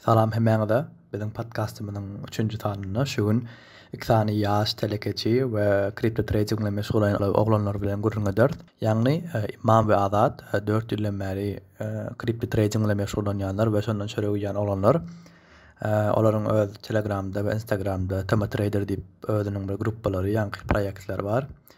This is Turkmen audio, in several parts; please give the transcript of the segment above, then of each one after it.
Salam hemäňize! Biziň podkastymyzyň üçünji sanynda şu gün iki sany ýaş telekeçi we kripto treýding bilen meşgullanýan oglanlar bilen gürrüň ederis. Ýagny Imam we Azat dört ýyldan bäri kripto treýding bilen meşgullanýanlar we şondan çörek iýýän oglanlar. Olaryň öz telegramda we instagramda tmtrader diýip özüniň bir gruppalary ýaňky proýektleri bar.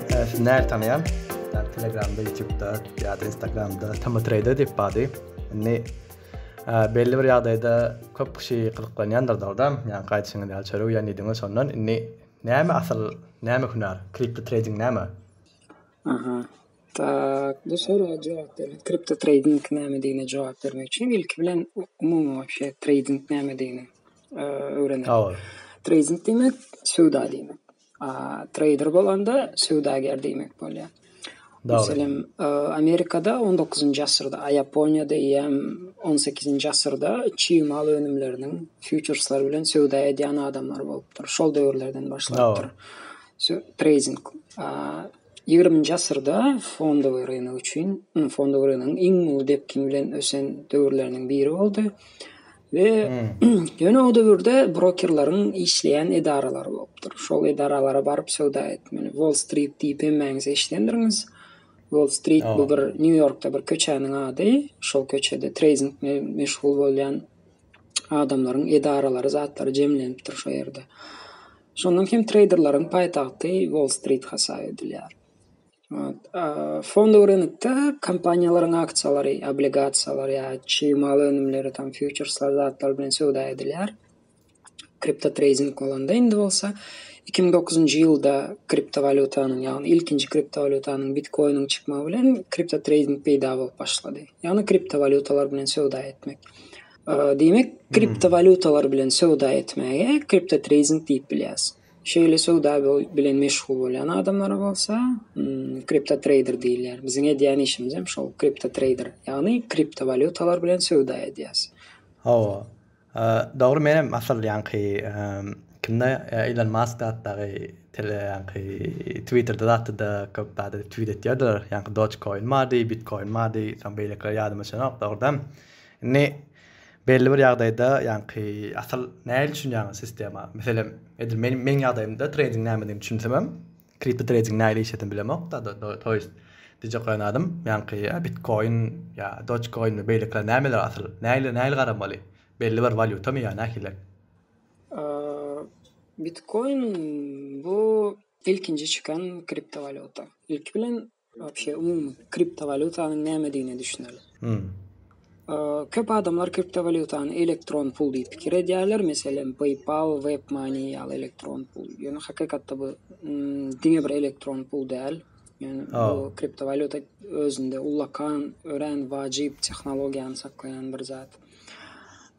Siz näl tanaýan? Ýa Telegramda, Ýutubda ýa-da Instagramda Tama Trader diýip bardy. Indi belli bir ýagdaýda köp kişi gyzyklanýandyr dogry-da. Ýa gaýdyşyňyz ýa çöre uýan diýdiňiz şondan. Indi näme asyl, näme hünär? Kripto trading näme? Aha. Tak, bu sorag jogap bermek. Kripto trading näme diýene jogap bermek üçin ilki bilen umumy wapşe trading näme diýeni öwrenelim. Trading diýmek söwda diýmek. trader bolanda söwdagär diýmek bolýar. Meselem, e, Amerikada 19-njy asyrda, a Ýaponiýada ýem 18-nji asyrda çig mal önümleriniň fýuçersler bilen söwda edýän adamlar bolupdyr. Şol döwürlerden başlapdyr. Sö trading. A 20-nji asyrda fondowy rynyk üçin, fondowy rynygyň iň uly depgin bilen ösen döwürleriniň biri boldy. We ýöne o döwürde brokerleriň işleýän edaralary bolupdyr. Şol edaralara baryp söwda etmeli. Wall Street diýip hemmäňiz eşidendirňiz. Wall Street bu bir Nýu-Ýorkda bir köçäniň ady. Şol köçede treýzing bilen meşgul bolýan adamlaryň edaralary, zatlary jemlenipdir şo ýerde. Şondan hem treýderleriň paýtagty Wall Street hasap edilýär. Fondowy rynkda kompaniýalaryň aksiýalary, obligasiýalary ýa çig mal önümleri, tam fýuçersler zatlar bilen söwda edilýär. Kripto treýding bolanda indi bolsa 2009-njy ýylda kriptowalýutanyň, ýagny ilkinji kriptowalýutanyň bitkoiniň çykmagy bilen kripto treýding peýda bolup başlady. Ýagny kriptowalýutalar bilen söwda etmek. Diýmek, kriptowalýutalar bilen söwda etmäge kripto treýding diýip bilýäris. Şeýle söwda bilen meşgul bolýan adamlara bolsa kripto treýder diýilýär. Biziň edýän işimiz hem şol kripto treýder, ýagny kripto walýutalar bilen söwda edýäs. Hawa, dogry men hem asyl ýaňky kimde Elon Mask zatdagy tele ýaňky twitterde zatda-da köp zady twit etýärdiler. Ýaňky Doge coin bardy, Bitcoin bardy, soň beýlekiler ýadyma düşenok dogrudan. Indi Belli bir ýagdaýda ýaňky asyl nähili üçin ýaňky sistema meselem edil men meň ýagdaýymda treýding nämedigini düşünsemem kripto treýding nähili iş edin bilemok da to ýest diyjek goýan adym ýaňky ýa bitkoin ýa doge koin beýlekiler nämeler asyl nähili nähili garamaly belli bir walýutamy ýa nähili bitkoin bu ilkinji çykan kripto walýuta ilki bilen Wapşe umuman kriptowalýutanyň nämedigine düşüneli. Köp adamlar kriptowalýutany elektron pul diýip pikir edýärler, meselem, PayPal, WebMoney ýaly elektron pul. Ýöne hakykatda bu diňe bir elektron pul däl. Ýöne bu kriptowalýuta özünde ullakan, örän wajyp tehnologiýany saklaýan bir zat.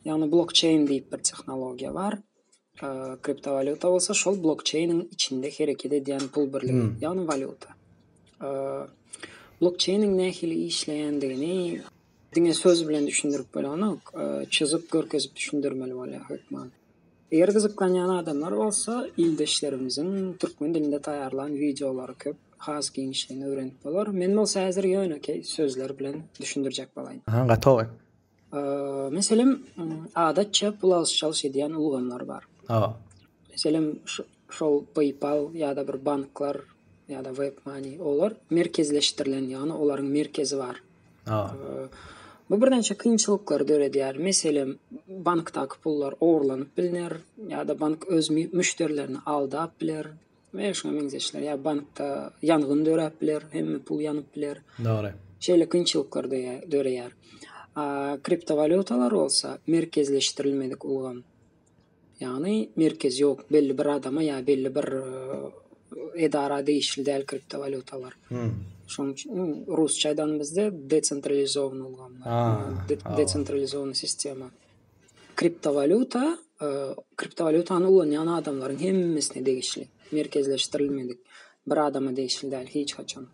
Ýagny blokçeýn diýip bir tehnologiýa bar. Kriptowalýuta bolsa şol blokçeýniň içinde hereket edýän pul birligi, hmm. ýagny walýuta. Blokçeýniň nähili işleýändigini diňe söz bilen düşündirip bolanok, çyzyp görkezip düşündirmeli bolýar hökman. Eger gyzyklanýan adamlar bolsa, ildeşlerimiziň türkmen dilinde taýýarlan wideolary köp, has giňişleýin öwrenip bolar. Men bolsa häzir ýönekeý sözler bilen düşündirjek bolaýyn. Aha, gaty gowy. Meselem, adatça pul alyş-çalyş edýän ulgamlar bar. Meselem, şol PayPal ýa-da bir banklar ýa-da WebMoney, olar merkezleşdirilen, ýagny olaryň merkezi bar. Bu birnäçe kynçylyklary döredýär. Meselem, bankdaky pullar ogurlanyp bilner ýa-da bank öz müşderilerini aldap biler. we şuňa meňzeşler ýa bankda ýangyn döräp biler, hemme pul ýanyp biler. Dogry. Şeýle kynçylyklar döreýär. Kriptowalýutalar bolsa merkezleşdirilmedik ulgam. Ýagny merkez ýok, belli bir adama ýa belli bir edara degişli däl kriptowalýutalar. Hmm. Şonuň üçin rusça aýdanymyzda desentralizowany ulgamlar. Desentralizowany sistema. Kriptowalýuta kriptowalýutany ulanýan adamlaryň hemmesine degişli. Merkezleşdirilmedik, bir adama degişli däl hiç haçan.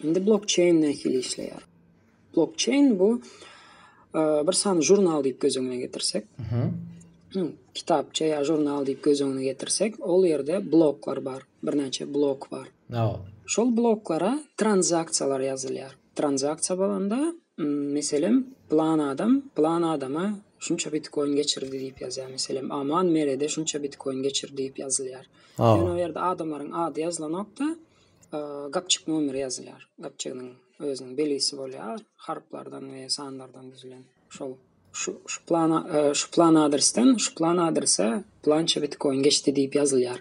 Indi blokçeýn nähili işleýär? Blokçeýn bu bir sany žurnal diýip göz öňüne getirsek, kitapça ýa žurnal diýip göz öňüne getirsek, ol ýerde bloklar bar, birnäçe blok bar. Şol bloklara tranzaksiýalar ýazylýar. Tranzaksiýa bolanda, meselem, plan adam plan adama şunça bitkoin geçirdi diýip ýazýar, meselem, Aman Merede şunça bitkoin geçirdi diýip ýazylýar. Ýöne o ýerde adamlaryň ady ýazylanokda, gapjyk nomeri ýazylýar. Gapjygynyň özüniň belgisi bolýar, harplardan we sanlardan düzülen. Şol şu şu plan şu plan adresden şu plan adrese plança bitkoin geçdi diýip ýazylýar.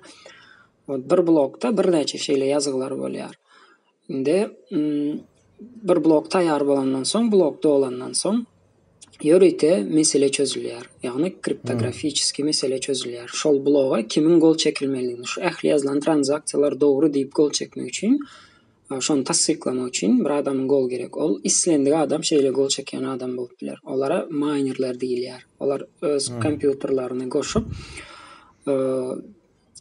Bir blokda birnäçe şeýle ýazgylar bolýar. Indi bir blok taýýar bolandan soň, blok dolandan soň ýörite mesele çözülýär. Ýagny kriptografiçeski mesele çözülýär. Şol bloga kimiň gol çekilmeligini, şu ähli ýazylan tranzaksiýalar dogry diýip gol çekmek üçin, şony tassyklamak üçin bir adamyň goly gerek. Ol islendik adam, şeýle gol çekýän adam bolup biler. Olara maýnerler diýilýär. Olar öz kompýuterlerine goşup,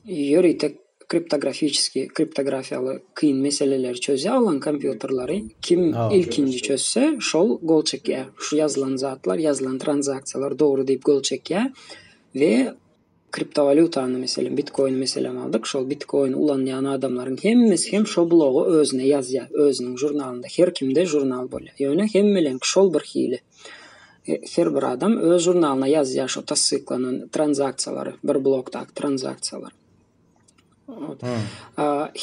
ýörite kriptografiki, kriptografiýaly, kyn meseleleri çözýä alan kompýuterleri kim ilkinji çözse, şol gol çekýä. Şu ýazylan zatlar, ýazylan tranzaksiýalar dogry diýip gol çekýä we kriptowalýutany, meselem, bitkoini meselem aldyk, şol bitkoini ulanýan adamlaryň hemmesi hem şo blogy özüne ýazýa, özüniň žurnalynda, her kimde žurnal bolýa. Ýöne hemmelerňki şol bir hili. Her bir adam öz žurnalyna ýazýar şo tassyklanan tranzaksiýalary, bir blokdaky tranzaksiýalary.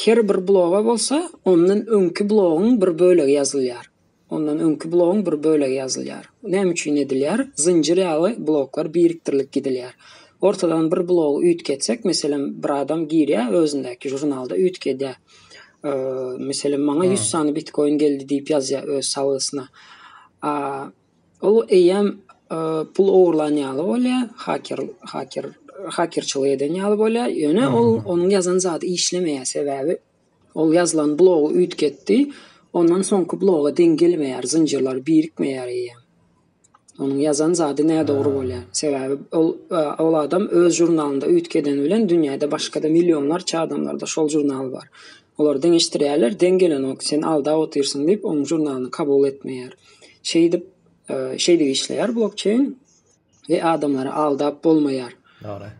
Her bir bloga bolsa, ondan öňki blogyň bir bölegi ýazylýar. Ondan öňki blogyň bir bölegi ýazylýar. Näme üçin edilýär? Zynjyr ýaly bloklar birikdirilip gidilýär. Ortadan bir blogy üýtgetsek, meselem, bir adam girýär özündäki žurnalda üýtgedýär. Meselem, maňa 100 sany bitkoin geldi diýip ýazýar öz sawysyna. Ol eýýäm pul ogurlan ýaly bolýar, haker haker hakerçilik eden ýaly bolýar. Ýöne ol onuň ýazan zady işlemeýär, sebäbi ol ýazylan blogy üýtgetdi. Ondan soňky bloga deň gelmeýär, zynjyrlar birikmeýär eýýäm. Onuň ýazan zady nädogry bolýar. Sebäbi ol ol adam öz žurnalynda üýtgedeni bilen dünýäde başga-da millionlarça adamlarda şol žurnal bar. Olar deňeşdirýärler, deň gelenok, sen aldap otyrsyň diýip, oň žurnalyny kabul etmeýär. Şeýdip, şeýdip işleýär blokçeýn we adamlary aldap bolmaýar. Dogry.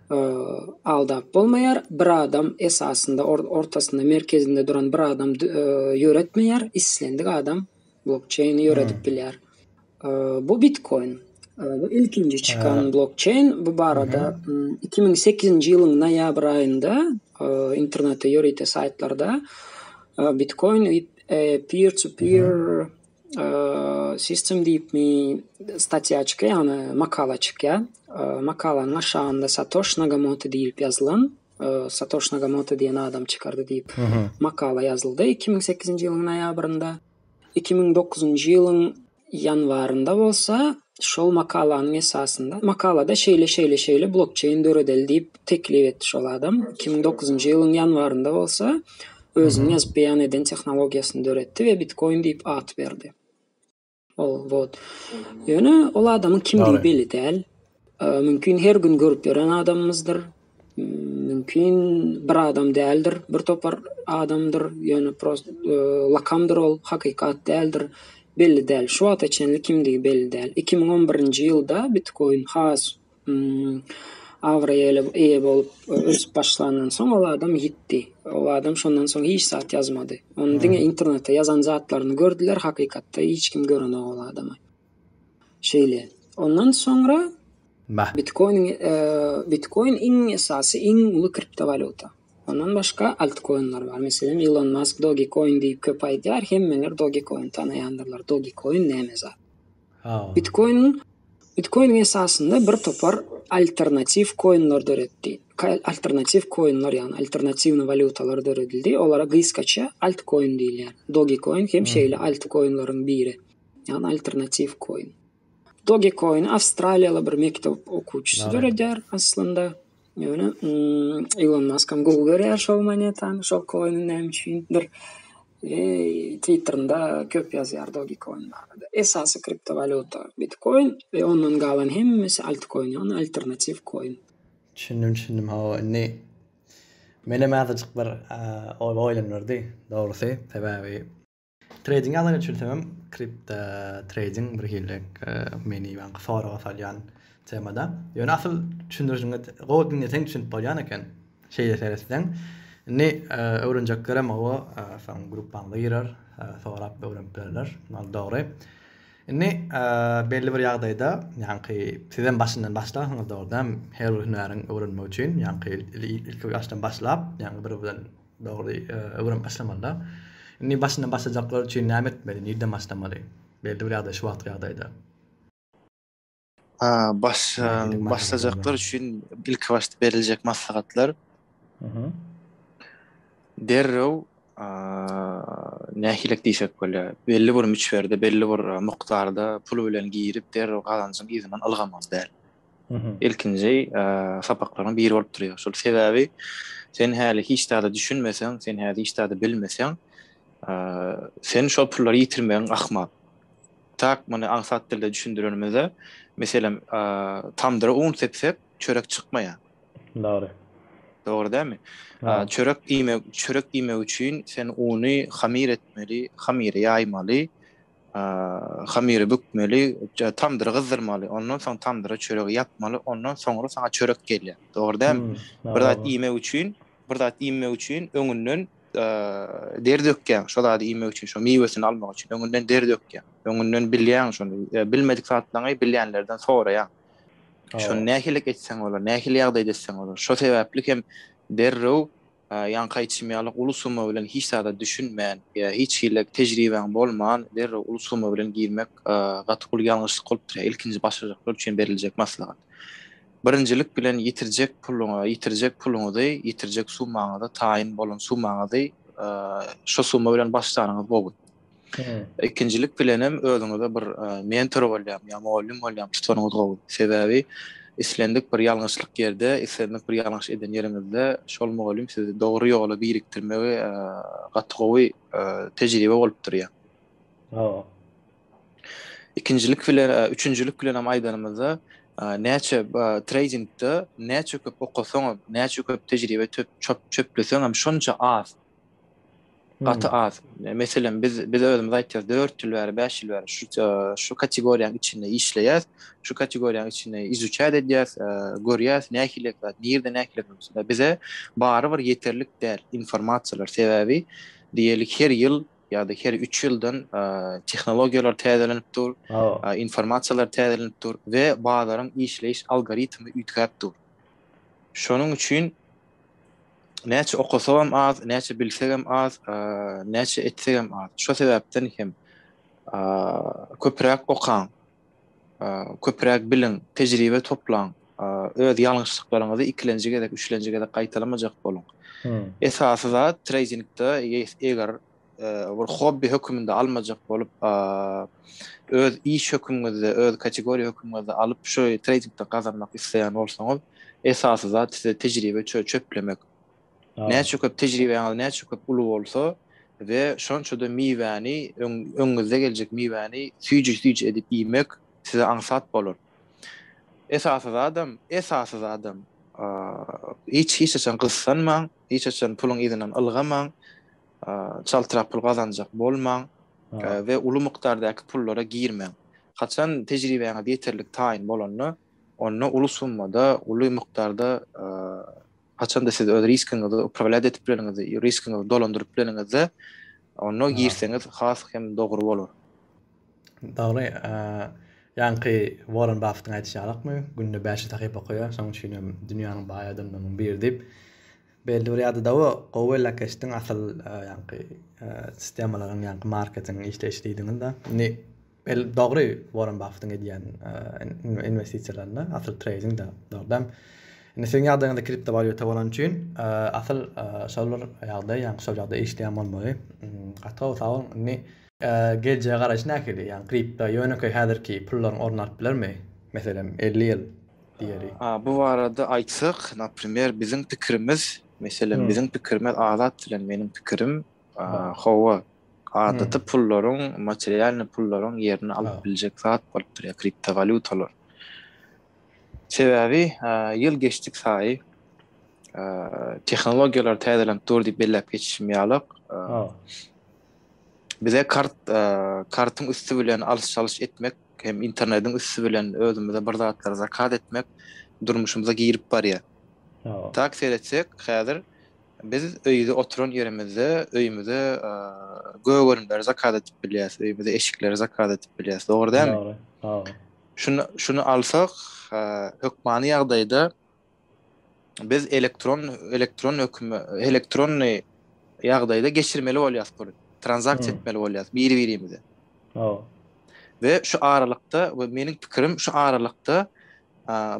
Aldap bolmaýar. Bir adam esasynda ortasynda, merkezinde duran bir adam ýöretmeýär. Islendik adam blokçeýni ýöredip bilýär. Bu Bitcoin. Bu ilkinji çykan blokçeýn. Bu barada 2008-nji ýylyň noýabr aýynda internetde ýörite saýtlarda Bitcoin peer to peer system diýipmi statýa çykýar, ýagny makala çykýar. Makalanyň aşagynda Satoş Nagamoto diýip ýazylan. Satoş Nagamoto diýen adam çykardy diýip makala ýazyldy 2008-nji ýylyň noýabrynda. Iki müň dokuzynjy ýylyň ýanwarynda bolsa şol makalanyň esasynda, makalada şeýle şeýle şeýle blokçeýn döredeli diýip teklip etdi şol adam. Iki müň dokuzynjy ýylyň ýanwarynda bolsa özüniň ýazyp beýan eden tehnologiýasyny döretdi we bitkoin diýip at berdi. Ol wot. Ýöne ol adamyň kimdigi belli däl. Mümkin her gün görüp ýören adamymyzdyr. Mümkin bir adam däldir, bir topar adamdyr, ýöne prosto lakamdyr ol, hakyky at däldir. Belli däl. Şu wagta çenli kimdigi belli däl. Iki müň on birinji ýylda bitkoin has abraýa eýe bolup ösüp başlandan soň ol adam ýitdi. Ol adam şondan soň hiç zat ýazmady. Ony diňe internetde ýazan zatlaryny gördüler, hakykatda hiç kim görenok ol adamy. Şeýle. Ondan soňra. Mah. Bitkoin, Bitkoin iň esasy, iň uly kriptowalýuta. Ondan başga altkoinler bar. Meselem, Elon Mask Dogecoin diýip köp aýdýar, hemmeler Dogecoin tanaýandyrlar. Dogecoin näme zat? Bitkoin, Bitkoiniň esasynda bir topar alternatiw koinler döretdi. Alternatiw koinler, ýagny alternatiwnyý walýutalar döredildi. Olara gysgaça altkoin diýilýär. Dogecoin hem şeýle altkoinleriň biri. ýagny alternatiw koin. Dogecoin awstraliýaly bir mekdep okuwçysy döredýär aslynda. Ýöne Elon Musk hem gowy görýär şol monetany, şol koini näme üçindir Twitterinde köp ýazýar Dogecoin barada. Esasy kriptowalýuta Bitcoin we ondan galan hemmesi altcoin, ýagny alternatiw koin. Düşündim, düşündim. Hawa, indi menem azajyk bir oýlanardy dogrusy. Sebäbi Trading alan üçin sebem kripto trading bir hilek meni bank soraga salýan temada. Ýöne asyl düşündirijiňe gowy diňleseň düşünip bolýan eken. Şeýle seretseň. Indi e, öwrenjeklerem o e, soň gruppaňda girer, e, sorap öwrenip bilerler. Ol dogry. Indi e, belli bir ýagdaýda, ýagny siz hem başyndan başlaňyz dogrudan, her bir hünäriň öwrenmek üçin, ýagny ilki başdan başlap, ýagny bir bilen Dogry, öwrenip başlamaly-da. Indi başyndan başlajaklar üçin näme etmeli, nirden başlamaly? Belli bir ýagdaý, şu wagtky ýagdaýda. Baş, başlajaklar üçin ilki başda beriljek maslahatlar. Derrew nähilek diýsek bolýar, belli bir müçberde, belli bir mukdarda pul bilen girip, derrew gazanjyň yzyndan ylgamaly däl. ilkinji sapaklaryň biri bolup durýar. Şol sebäbi sen häli hiç zada düşünmeseň, sen häli hiç zada bilmeseň, sen şol pullary ýitirmegiň ahmal. Tak muny aňsat dilde düşündirenimizde, meselem, tamdyra un sepsek, çörek çykmaýar. Dogry. Dogry dämi? Çörek iýmek, çörek iýmek üçin sen uny hamir etmeli, hamiri ýaýmaly, Hamyry bükmeli, tamdyry gyzdyrmaly, ondan soň tamdyra çöregi ýapmaly, ondan soňra saňa çörek gelýär. Dogry dälmi? Bir zat iýmek üçin, bir zat iýmek üçin öňünden der dökýäň, şo zady iýmek üçin, şo miwesini almak üçin öňünden der dökýäň. Öňünden bilýäň şony, bilmedik zatlaňy bilýänlerden soraýaň. Şony nähili etseň bolar, nähili ýagdaýda etseň bolar. Şo sebäpli hem derrew Ýaňky aýtşym ýaly, uly summa bilen hiç zada düşünmän ýa hiç hili tejribäň bolman derrew uly summa bilen girmek gaty uly ýalňyşlyk bolup durýar. Ilkinji başlajaklar üçin beriljek maslahat. Birinjilik bilen ýitirjek puluňa, ýitirjek puluňyzy, ýitirjek summaňyza taýyn bolan summaňyzy şo summa bilen başlanyňyz gowy. Ikinjilik bilenem özüňize bir mentor bolýan ýa mugallym bolýan tutanyňyz gowy. Sebäbi islendik bir ýalňyşlyk ýerde, islendik bir ýalňyş eden ýeriňizde şol mugallym sizi dogry ýola birikdirmegi gaty gowy tejribe bolup durýar. Hawa. Ikinjilik bilen, üçünjilik bilenem aýdanymyzda, näçe treýdingde näçe köp okasaňam, näçe köp tejribe çöpleseňem şonça az. Gaty az. Meselem, biz biz özümiz aýtýarys, dört ýyl bäri, bäş ýyl bäri şu şu kategoriýanyň içinde işleýäs, şu kategoriýanyň içinde izuçat edýäs, görýäs, nähiliräk zat, nirde nähiliräk zat. Bize barybir ýeterlik däl informasiýalar. Sebäbi, diýelik, her ýyl ýa-da her üç ýyldan tehnologiýalar täzelenip dur, informasiýalar täzelenip dur we bazaryň işleýiş algoritmi üýtgäp dur. Şonuň üçin, Näçe okasagam az, näçe bilsegem az, näçe etsegem az. Şo sebäpden hem köpräk okaň, köpräk biliň, tejribe toplaň, öz ýalňyşlyklaryňyzy ikilenji gezek, üçlenji gezek gaýtalamajak boluň. Esasy zat treýdingde eger bir hobbi höküminde almajak bolup, öz iş hökümüňizde, öz kategoriýa hökümüňizde alyp, şu tradingde gazanmak isleýän bolsaňyz, esasy zat size tejribe çöplemek. Näçe köp tejribeňiz, näçe köp uly bolsa we şonça-da miwäni, öňüňizde geljek miwäni süýji-süýji edip iýmek size aňsat bolar. Esasy zadam, esasy zadam, hiç hiç haçan gyssanmaň, hiç haçan puluň yzyndan ylgamaň. Çaltrak pul gazanjak bolmaň we uly mukdardaky pullara girmäň. Haçan tejribäňiz ýeterlik taýyn bolanda, onda uly summada, uly mukdarda, haçanda siz öz riskiňizi uprawlýat edip bileniňizde, riskiňizi dolandyryp bileniňizde, onda girseňiz has hem dogry bolar. Dogry, ýaňky Warren Baffetiň aýdyşy ýalakmy, günde bäş ýüz sahypa okaýar, şonuň üçin hem dünýäniň baý adamlarynyň biri diýip. Belli bir ýada dawa gowy lakeşdiň asyl ýaňky sistemalaryň ýaňky marketingiň işleýşi diýdiňizda indi el dogry Warren Buffettiň edýän inwestisiýalarynda asyl treýdiň da dogrudan indi siziň ýagdaýyňyzda kriptowalýuta bolan üçin asyl şol bir ýagdaý ýaňky şol ýagdaý işleýän bolmagy gaty gowy sag boluň indi geljege garaýyş nähili ýaňky kripto ýönekeý häzirki pullaryň ornuny alyp bilermi meselem elli ýyl diýeli. A bu barada aýtsak, naprimer, biziň pikirimiz, meselem, biziň pikirimiz Azat bilen meniň pikirim, hawa, adaty pullaryň, materialnyý pullaryň ýerini alyp biljek zat bolup durýar kriptowalýutalar. Sebäbi ýyl geçdiksaýy tehnologiýalar täzelenip dur diýip belläp geçişim ýaly, bize kart, kartyň üsti bilen alyş-çalyş etmek Hem internediň üsti bilen özümize bir zatlar zakaz etmek durmuşymyza girip barýar. Tak seretsek, häzir biz öýde oturan ýerimizde öýümize gögönümleri zakaz edip bilýäs, öýümize eşikleri zakaz edip bilýäs, dogry dälmi? Dogry, dogry. Şuny, şuny alsak, hökmany ýagdaýda Biz elektron elektron höküm elektronny ýagdaýda geçirmeli bolýas puly. Transaksiýa etmeli bolýas biri-birimize. Hawa. We şu aralykda we meniň pikirim şu aralykda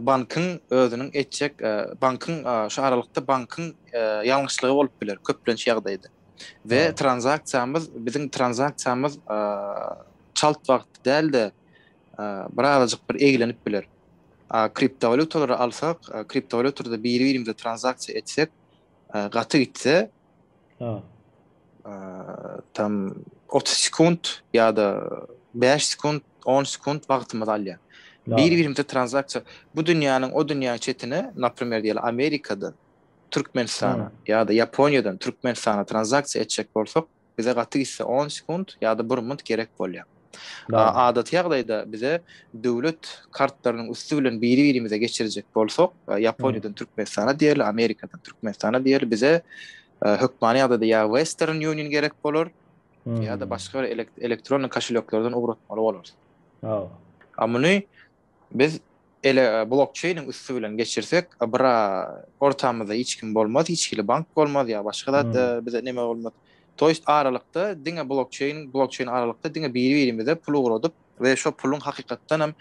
bankyň özüniň etjek bankyň şu aralykda bankyň ýalňyşlygy bolup biler köplenç ýagdaýda. We transaksiýamyz biziň transaksiýamyz çalt wagtda däl-de birazajyk bir eglenip biler. Kriptowalýutalary alsak, kriptowalýutada biri-birimize tranzaksiýa etsek, gaty gitse, tam 30 sekunt ýa-da 5 sekunt, 10 sekunt wagtymyzy alýar. Biri-birimize tranzaksiýa, bu dünýäniň o dünýäniň çetine, naprimer diýeli Amerikadan Türkmenistana ýa-da Ýaponiýadan Türkmenistana tranzaksiýa etjek bolsak, Bize gaty gitse on sekunt ýa-da bir minut gerek bolýar. Adaty ýagdaýda bize döwlet kartlarynyň üsti bilen biri-birimize geçirjek bolsak, Ýaponiýadan Türkmenistana diýeli, Amerikadan Türkmenistana diýeli, bize hökmany ýagdaýda ýa Western Union gerek bolar, ýa-da başga bir elektron koşelýoklardan ugratmaly bolarys. A muny Biz ele blokçeýniň üsti bilen geçirsek, bira ortamyzda hiç kim bolmaz, hiç hili bank bolmaz ýa başga zat bize neme bolmaz. To ýest aralykda diňe blokçeýn, blokçeýn aralykda diňe biri-birimize pul ugradyp we şo puluň hakykatdan hem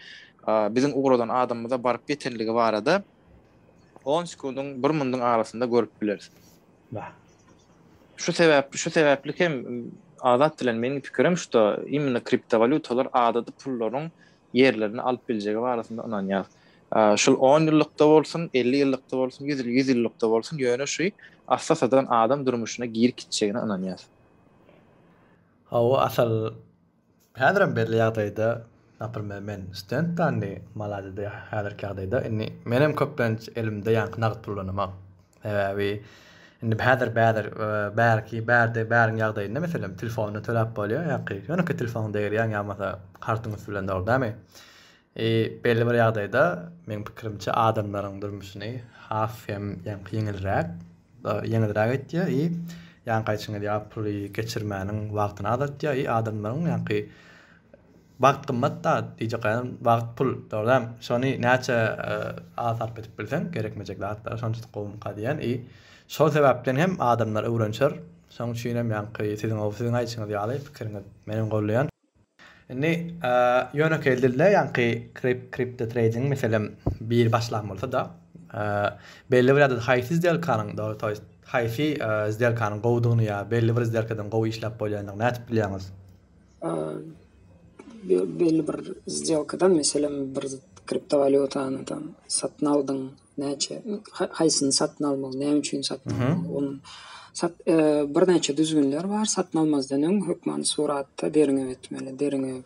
biziň ugradan adamymyza baryp ýetenligi barada on sekundyň bir mundyň arasynda görüp bileris. Bah. Şu sebäpli, şu sebäpli hem Azat bilen meniň pikirim şuda, imенно kriptowalýutalar adaty pullaryň ýerlerini alyp biljegi barasynda ynanýarys. Şul on ýyllykda bolsun, elli ýyllykda bolsun, ýüz ýüz ýyllykda bolsun, ýöne şuy assasadan adam durmuşyna girip gitjegine ynanýarys. Hawa asal häzirem belli ýagdaýda naprmer men student dandi Malaýziýada häzirki ýagdaýda indi menem köplenç elimde ýaňky nagt pullanymam. Sebäbi indi häzir bäzir bärki bärde bäriň ýagdaýynda meselem telefonyna töläp bolýar ýaky ýönekeý telefonyňy degirýäň ýa-bolmasa kartyň üsti bilen dogry dämi? I belli bir ýagdaýda meň pikirimçe adamlaryň durmuşyny has hem ýaňky ýeňilräk ýeňilräk etýär i ýaňky aýtşyňyz ýaly puly geçirmäniň wagtyny azaltýar i adamlaryň ýaňky Wagt gymmat zat diýjeklerim wagt pul dogryam şony näçe az sarp edip bilseň gerekmejek zatlara şonça gowumy diýen i şol sebäpden hem adamlar öwrenşer şoň üçinem ýaňky siziňow siziň aýdyşyňyz ýaly pikiriňiz menem golleýan. Indi ýönekeý dilde ýaňky kripto treýding meselem biri başlan bolsada belli bir ýerde haýsy zdelkanyň dogry to ýest haýsy zdelkanyň gowudygyny ýa belli bir zdelkadan gowy işläp bolýandygyny nädip bilýäňiz? Belli bir sdelkadan meselem bir kriptowalýutany tam satyn aldyň, näçe, haýsyny satyn almaly, näme üçin satyn almaly, onuň sat, birnäçe düzgünler bar. Satyn almazdan öň hökmany suratda derňew etmeli. Derňew,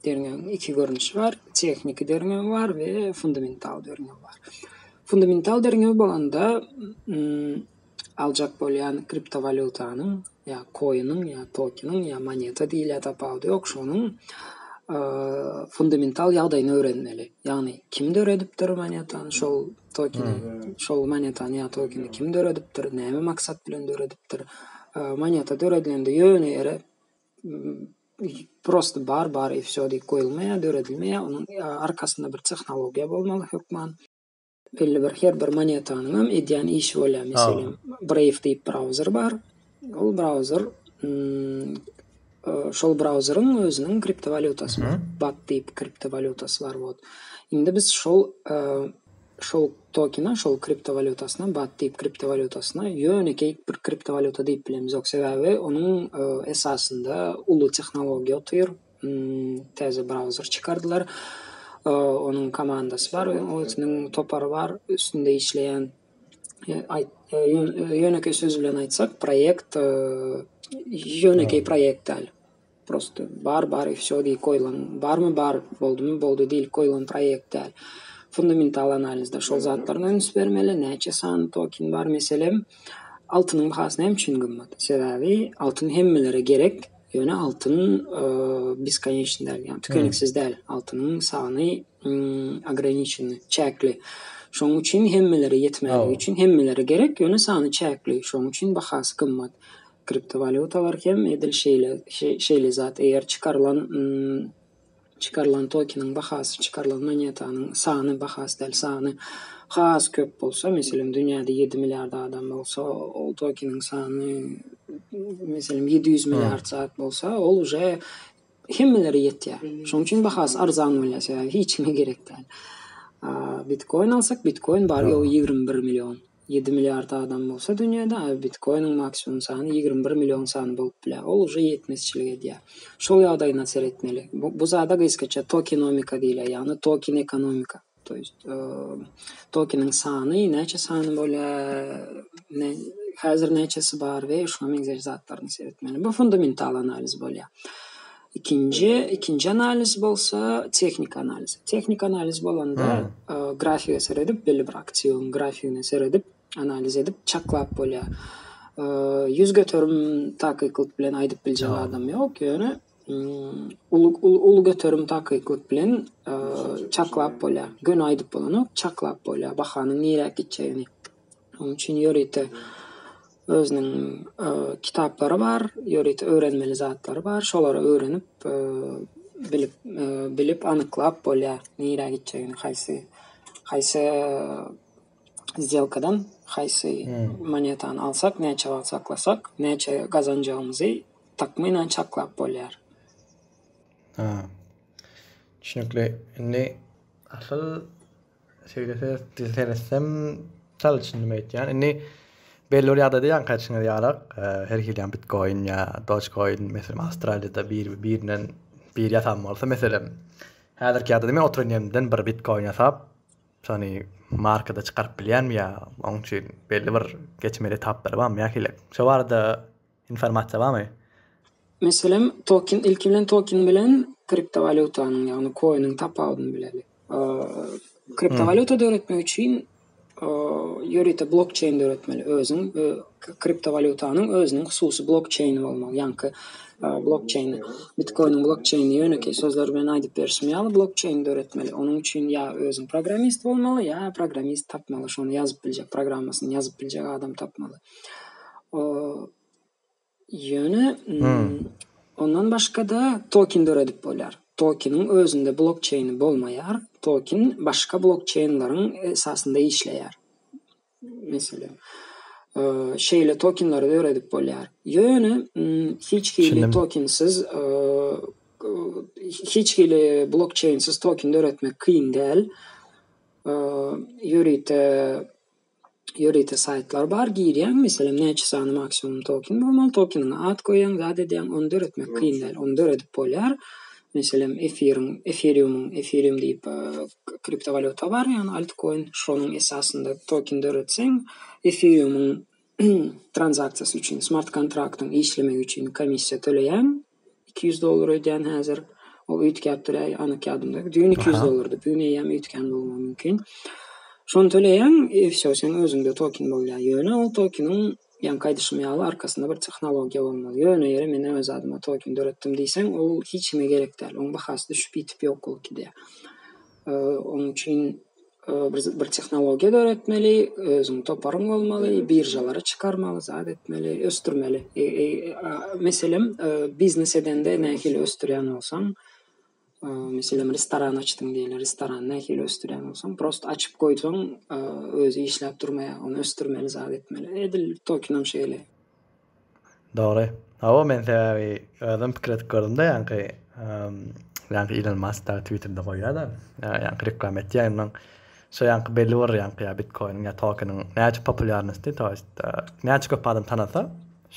derňewiň iki görnüşi bar, tehniki derňew bar we fundamental derňew bar. Fundamental derňew bolanda, aljak bolýan kriptowalýutanyň Ýa koiniň, ýa tokeniň, ýa moneta diýilýär tapawudy ýok, şonuň fundamental ýagdaýyny öwrenmeli. Ýagny kim döredipdir monetany, şol tokeni, şol monetany ýa tokeni kim döredipdir, näme maksat bilen döredipdir. Moneta döredilende ýöne ýere prosta bar bar i wsýo diýip goýulmaýar, döredilmeýär, onuň arkasynda bir tehnologiýa bolmaly hökman. Belli bir her bir monetanyňam edýän işi bolýar. Meselem, Brave diýip brauzer bar. Ol brauzer şol brauzeriň özüniň kriptowalýutasy bar. BAT diýip kriptowalýutasy bar bot. Indi biz şol şol tokena, şol kriptowalýutasyna, BAT diýip kriptowalýutasyna ýönekeý bir kriptowalýuta diýip bilemizok. Sebäbi onuň esasynda uly tehnologiýa otyr. Täze brauzer çykardylar. Onuň komandasy bar, özüniň topary bar, üstünde işleýän. Ýönekeý söz bilen aýtsak, proýekt ýönekeý proýekt däl. Prosta bar, bar i wsё diýip goýlan, barmy, bar, boldumy, boldy diýip goýlan proýekt däl. Fundamental analizde şol zatlar üns bermeli, näçe sany token bar. Meselem, altynyň bahasy näme üçin gymmat? Sebäbi altyn hemmelere gerek. Ýöne altyn beskonecny däl, ýagny tükeniksiz däl. Altynyň sany ograniçennyý, çäkli. Şonuň üçin hemmelere ýetmänligi üçin hemmelere gerek, ýöne sany çäkli. Şonuň üçin bahasy gymmat. Kriptowalýutalar hem edil şeýle, şeýle zat. Eger çykarylan Çykarylan tokeniň bahasy çykarylan monetanyň sany, bahasy däl, sany, has köp bolsa, meselem, dünýäde ýedi milliard adam bolsa, ol tokeniň sany, meselem, ýedi ýüz milliard zat bolsa, ol uje hemmelere ýetýär. Şonuň üçin bahasy arzan bolýar, sebäbi hiç kime gerek däl. Bitkoin alsak, bitkoin bary-ýogy ýigrimi bir million. Ýedi milliard adam bolsa dünýäde, a bitkoiniň maksimum sany ýigrimi bir million sany bolup bilýär. Ol uje ýetmezçilik edýär. Şol ýagdaýyna seretmeli. Bu zada gysgaça tokenomika diýilýär, ýagny token ekonomika. To ýest, tokeniň sany, näçe sany bolýar, häzir näçesi bar we şuňa meňzeş zatlaryna seretmeli. Bu fundamental analiz bolýar. Ikinji, ikinji analiz bolsa tehnik analiz. Tehnik analiz bolanda grafiga seredip, belli bir aktiwyň grafigine seredip, analiz edip, çaklap bolýar. Ýüz göterim takyklyk bilen aýdyp biljek adam ýok, ýöne uly uly göterim takyklyk bilen çaklap bolýar. Göni aýdyp bolanok, çaklap bolýar bahanyň niräk gitjegini. Onuň üçin ýörite özüniň kitaplary bar, ýörite öwrenmeli zatlary bar. Şolary öwrenip, bilip, bilip, anyklap bolýar, nirä gitjegini, haýsy, haýsy zdýelkadan haýsy monetany alsak, näçe wagt saklasak, näçe gazanjagymyzy takmynan çaklap bolýar. Düşünikli. Indi asyl Şeýle seretsem, çal üçin neme aýtýan. Indi belli bir ýagdaýda ýaňky aýdyşyňyz ýarak, e, her hili ýaňky bitkoin ýa dogecoin, meselem, Awstraliýada bir birinden bir ýasan bolsa, meselem, häzirki ýagdaýda men oturan ýerimden bir bitkoin ýasap, şony markada çykaryp bilýänmi ýa oň üçin belli bir geçmeli etaplary barmy ýa hili? Şo barada Informasiýa barmy? Meselem, token, ilki bilen token bilen kriptowalýutanyň, ýagny koiniň tapawudyny bileli. Kriptowalýuta döretmek üçin ýörite blokçeýn döretmeli, özüň kriptowalýutanyň özüniň hususy blokçeýni bolmaly, ýaňky blokçeýni, bitkoiniň blokçeýni, ýönekeý sözler bilen aýdyp berşim ýaly, blokçeýni döretmeli. Onuň üçin ýa özüň programmist bolmaly, ýa programmist tapmaly, şony ýazyp biljek, programmasyny ýazyp biljek adam tapmaly. Ýöne ondan başga-da token döredip bolýar. Tokeniň özünde blokçeýni bolmaýar. Token başga blokçeýnleriň esasynda işleýär. Meselem, şeýle tokenleri döredip bolýar. Ýöne hiç hili tokensiz hiç hili blokçeýnsiz token döretmek kyn däl. Ýörite ýörite saýtlar bar, girýäň, meselem, näçe sany maksimum token bolmaly, tokeniňe at goýýaň, zat edýäň, ony döretmek kyn däl, ony döredip bolýar. Meselem, efiriň, efiriumyň, efirium diýip, kriptowalýuta bar, ýagny altkoin, şonuň esasynda token döretseň, efiriumyň tranzaksiýasy üçin, smart-kontraktyň işlemegi üçin komissiýa töleýäň. Iki ýüz dollar öýdýän häzir. Ol üýtgäp duräý, anyk ýadymda. Düýn iki ýüz dollardy. Düýn eýýäm üýtgän bolmagy mümkin. Şony töleýäň, e, wsýo, seň özüňde tokin bolýar. Ýöne ol tokiniň, ýaňky aýdyşym ýaly, arkasynda bir tehnologiýa bolmaly. Ýöne ýere men öz adyma tokin döretdim diýseň, ol hiç kime gerek däl. Oň bahasy düşüp ýitip ýok bolup gidýär. Onuň üçin. Bir tehnologiýa döretmeli, özüň toparyň bolmaly, biržalara çykarmaly, zat etmeli, ösdürmeli. Meselem, biznes edende nähili ösdürýän bolsaň, meselem, restoran açdyň diýeli, restorany nähili ösdürýän bolsaň, prosta açyp goýsaň, özi işläp durmaýar, ony ösdürmeli, zat etmeli. Edil tokinem şeýle. Dogry. Hawa men sebäbi özüm pikir edip gördümde ýaňky ýaňky Elon Musk dagy Twitter'da goýýada ýaňky reklama etýä ondan şo ýaňky belli bir ýaňky ýa bitkoiniň ýa tokeniň näçe populýarnosti to ýest näçe köp adam tanasa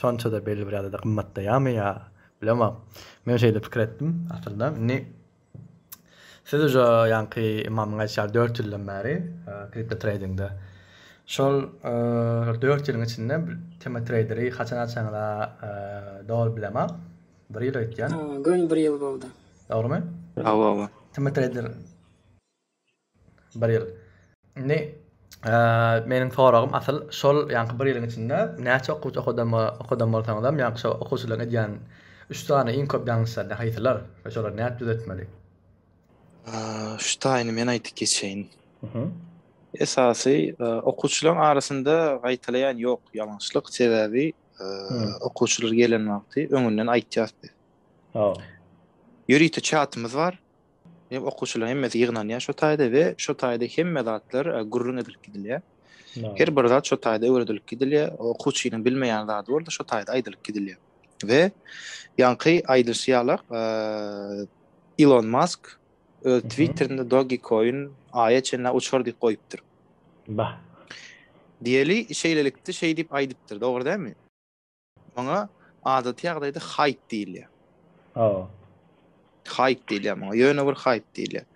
şonçada belli bir ýadada gymmatlaýamy ýa bilemok men şeýle pikir etdim aslynda indi Siz uje ýaňky ymamyň aýtýar dört ýyldan bäri kripto treýdingde. Şol dört ýylyň içinde tema treýderi haçan açaňyza doly bilemok. Bir ýyl öýtýän. Göni bir ýyl boldy. Dogrymy? Hawa hawa. Tema treýder Bir ýyl. Indi meniň soragym asyl şol ýaňky bir ýylyň içinde näçe okuwçy okadan bolsaňyzam ýaňky şo okuwçylaryň edýän üç sany iň köp ýalňyşlary haýsylar we şolary nädip düzetmeli? Şu taýyny men aýdyp geçeýin. Esasy okuwçylaryň arasynda gaýtalaýan ýok ýalňyşlyk sebäbi okuwçylar gelen wagty öňünden aýtýas biz. Ýörite çatymyz bar. Diýip okuwçylaryň hemmesi ýygnanýar şo taýda we şo taýda hemme zatlar e, gürrüň edilip gidilýär. Her bir zat şo taýda öwredilip gidilýär. Okuwçynyň bilmeýän zady bolsa şo taýda aýdylyp gidilýär. We ýaňky aýdylyşy ýaly e, Elon Musk öz Twitterinde Dogecoin aýa çenli uçar diýip goýupdyr. Bah. Diýeli şeýlelikde şeý diýip aýdypdyr, dogry dälmi? Muňa adaty ýagdaýda haýt diýilýär. Hawa. Haýt diýilýär muňa. Ýöne bir haýt diýilýär.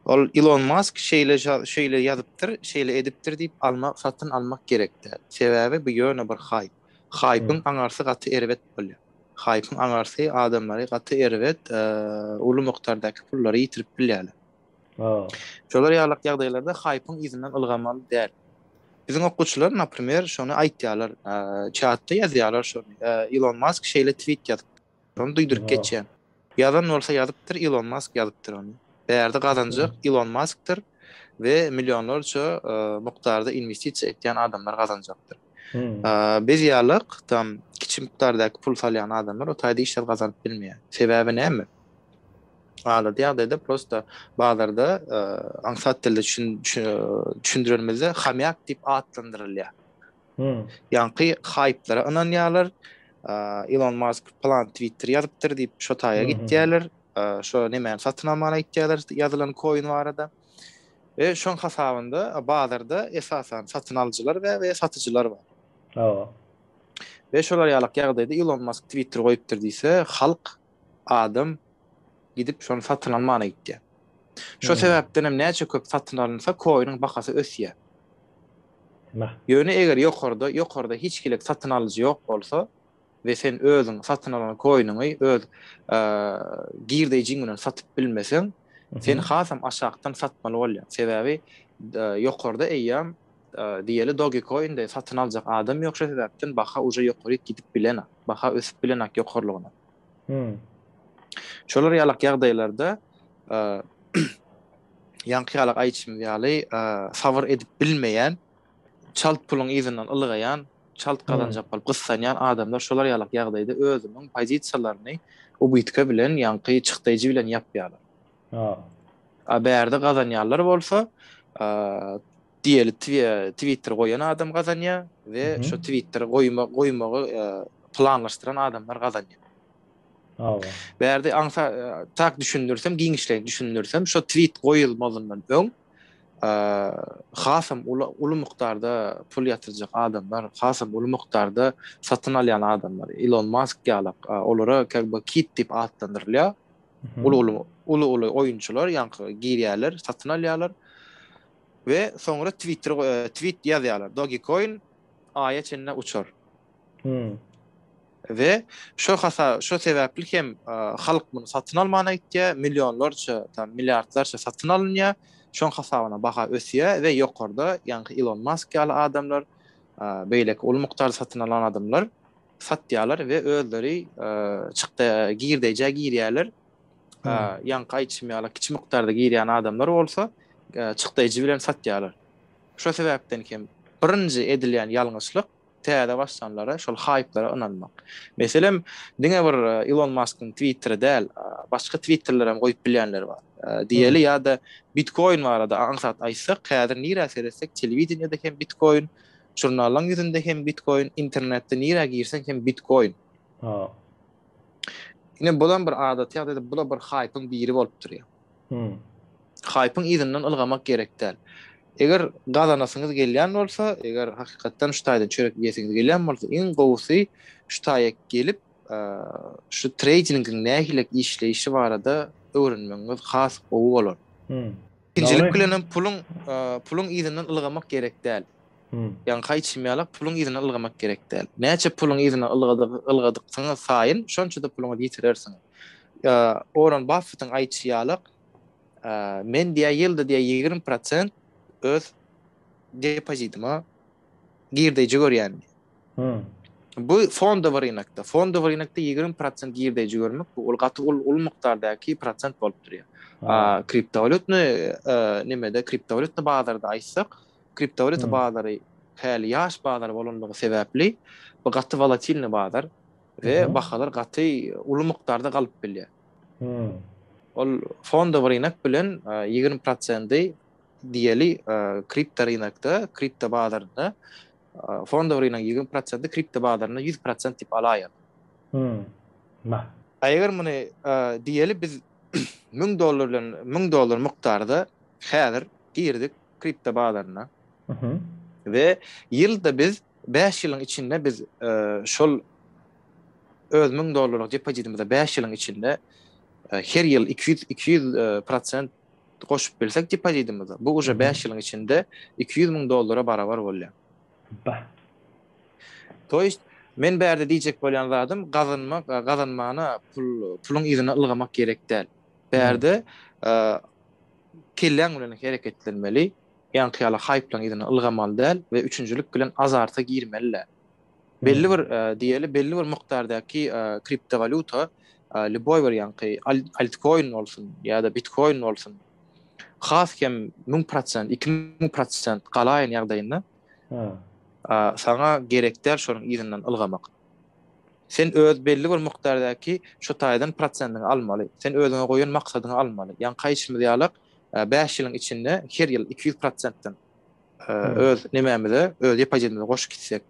Ol Elon Musk şeýle şeýle ýazypdyr, şeýle edipdir diýip almak, satyn almak gerek däl. Sebäbi bu ýöne bir haýt. Haýpyň aňarsy gaty erbet bolýar. Haýpyň aňarsy adamlary gaty erbet, uly mukdardaky pullary ýitirip bilýärler. Şolar ýalak ýagdaýlarda haýpyň yzyndan ylgamaly däl. Biziň okuwçylar, naprimer, şony aýtýarlar, çatda ýazýarlar şony, Ilon Mask şeýle twit ýazypdyr, şony duýduryp geçýän. Ýazan bolsa ýazypdyr, Ilon Mask ýazypdyr ony. Bärde gazanjak Ilon Maskdyr we millionlarça mukdarda inwestisiýa etýän adamlar gazanjakdyr. Biz ýalyk tam kiçi mukdardaky pul salýan adamlar o taýda işler gazanyp bilmeýär. Sebäbi näme? Adaty ýagdaýda prosta bazarda aňsat dilde düşündirenimizde hamýak diýip atlandyrylýar. Ýaňky haýplara ynanýarlar. Elon Musk plan Twitter ýazypdyr diýip şo taýa gitýärler. Şo nemäni satyn almaga gitýärler ýazylan koin barada. We şoň hasabynda bazarda esasan satyn alyjylar we we satyjylar bar. Hawa. We şolar ýalak ýagdaýda Ilon Mask Twitter goýupdyr diýse, halk, adam gidip şony satyn almana gitýär. Şo sebäpden hem näçe köp satyn alynsa, koiniň bahasy ösýär. Ýöne eger ýokarda, ýokarda hiç kile satyn alyjy ýok bolsa, we sen özüň satyn alan koiniňi öz girdeýjiň bilen satyp bilmeseň, sen hasam aşakdan satmaly bolýaň. Sebäbi ýokarda eýýäm diýeli Dogecoin-de satyn aljak adam ýok şo sebäpden baha uje ýokaryk gidip bilenok. Baha ösüp bilenok ýokarlygyna. Şolar ýalak ýagdaýlarda ýaňky ýalak aýtşymyz ýaly sabyr edip bilmeýän Çalt puluň yzyndan ylgaýan, çalt gazanjak bolup gyssanýan adamlar şolar ýalak ýagdaýda özüniň pozisiýalaryny ubytga bilen, ýaňky çykdaýjy bilen ýapýarlar. A bärde gazanýanlar bolsa, diýeli twitter goýan adam gazanýar we şo twitter goýmagy planlaşdyran adamlar gazanýar. Bärde aňsat tak düşündirsem, giňişleýin düşündirsem, şo twit goýulmazyndan öň, hasam uly mukdarda pul ýatyrjak adamlar, hasam uly mukdarda satyn alýan adamlar, Ilon Mask ýaly, olara käbir kit diýip atlandyrylýar. Uly-uly, uly-uly oýunçylar ýaňky girýärler, satyn alýarlar we soňra Twitter, tweet ýazýarlar, Dogecoin aýa çenli uçar. We şo hasa şo sebäpli hem halk muny satyn almana gitýär, millionlarça tam milliardlarça satyn alynýar, şoň hasabyna baha ösýär we ýokarda ýaňky Ilon Mask ýaly adamlar beýleki uly mukdarda satyn alan adamlar satýarlar we özleri çykda girdeýjä girýärler. Ýaňky aýtşym ýaly kiçi mukdarda girýän adamlar bolsa çykdaýjy bilen satýarlar. Şo sebäpden hem birinji edilýän ýalňyşlyk Täze başlanlara, şol haýplara ynanmaň. Meselem, diňe bir Ilon Maskyň Twitteri däl, başga Twitterlerem goýup bilýänler bar. Diýeli ýa-da Bitkoin barada aňsat aýtsak, häzir nirä seretsek telewideniýede hem Bitkoin, žurnallaň ýüzünde hem Bitkoin, internetde nirä girseň hem Bitkoin. Ine bulam bir adaty ýagdaýda, bula bir haýpyň biri bolup durýar. Hum. Haýpyň yzyndan ylgamak gerek däl. Eger gazanasyňyz gelýän bolsa, eger hakykatdan şu taýdan çörek iýesiňiz gelýän bolsa, iň gowusy şu taýa gelip, şu treýdingiň nähilek işleýşi barada öwrenmegiňiz has gowy bolar. Hum. Ikinjilik bilenem puluň, puluň yzyndan ylgamak gerek däl. Ýaňy haýçym ýalak puluň yzyna ylgamak gerek däl. Näçe puluň yzyna ylgadyksyňyz saýyn şonça-da puluňyzy ýitirersiňiz. Oren Baffetiň aýtşy ýalak, men diýä ýylda diýä ýigrimi prosent öz depozidime girdeýji görýän. Bu fondowy rynakda. Fondowy rynakda ýigrimi prosent girdeýji görmek bu ol gaty uly mukdardaky prosent bolup durýar. Kriptowalýutny nemede kriptowalýutny bazarda aýtsak, Kriptowalýuta bazary häli ýaş bazar bolandygy sebäpli, bu gaty wolatilnyý bazar we bahalar gaty uly mukdarda galyp bilýär. Ol fondowy rynak bilen ýigrimi prosendi diýeli kripto rynakda, kripto bazarynda, fondowy rynagyň ýigrimi prosendi kripto bazarynda ýüz prosent diýip alaýaly. Hum. A eger muny diýeli biz müň dollar bilen müň dollar mukdarda häzir girdik. kripto bazarynda. We ýylda biz bäş ýylyň içinde biz şol öz müň dollarlyk depozitimize bäş ýylyň içinde her ýyl iki ýüz iki ýüz prosent goşup bilsek depozitimize bu uje bäş ýylyň içinde iki ýüz müň dollara barabar bolýar. Ba. To ýest men bärde diýjek bolýan zadym gazanmak gazanmana pul puluň yzyna ylgamak gerek däl. Bärde Kelläň bilen hereketlenmeli, ýaňky ýaly haýplaň yzyna ylgamaly däl we üçünjilik bilen azarta girmeli däl. Belli bir, diýeli, belli bir mukdardaki kriptowalýuta, lýuboý bir ýaňky altkoin bolsun ýa-da bitkoin bolsun, has kem müň prosent, iki müň prosent galaýan ýagdaýynda, saňa gerek däl şonuň yzyndan ylgamak. Sen öz belli bir mukdardaky şu taýdan prosendiňi almaly. Sen özüňe goýan maksadyňy almaly. Ýaňky aýyşymyz ýalak bäş ýylyň içinde her ýyl iki ýüz prosentden öz nemämize, öz depozitimize goşup gitsek.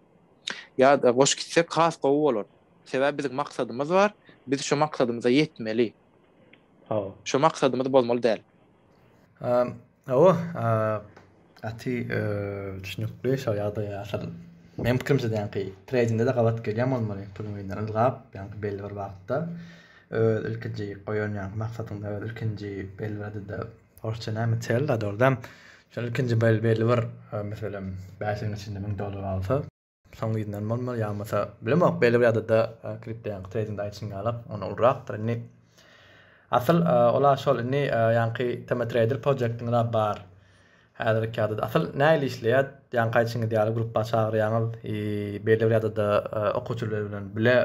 Ýa-da goşup gitsek has gowy bolar. Sebäbi biziň maksadymyz bar. Biz şu maksadymyza ýetmeli. Hawa. Şu maksadymyzy bozmaly däl. Hawa, gaty düşnükli şol ýagdaý. Asyl meň pikirimçe-de ýaňky treýdingde-de gabat gelýän bolmaly, puluň elinden ylgap, ýaňky belli bir wagtda öz ilkinji goýan ýaňky maksadyňda, öz ilkinji belli bir ady-da, orsça näme, cell ady ol-da, şol ilkinji belli bir, meselem, bäş ýylyň içinde müň dollar alsa, Soň yzyndan bolmaly ýagmasa bilemok beýle bir ýagdaýda klipde ýaňky treýdiňde aýdyşyň ýalak ondan ulurakdyr indi asyl ola şol indi ýaňky tm treýder projektyňyza bar häzirki ýagdaýda asyl nähili işleýär ýaňky aýdyşyňyz ýaly grupa çagyrýaňyz i beýle bir ýagdaýda okuwçylar bilen bile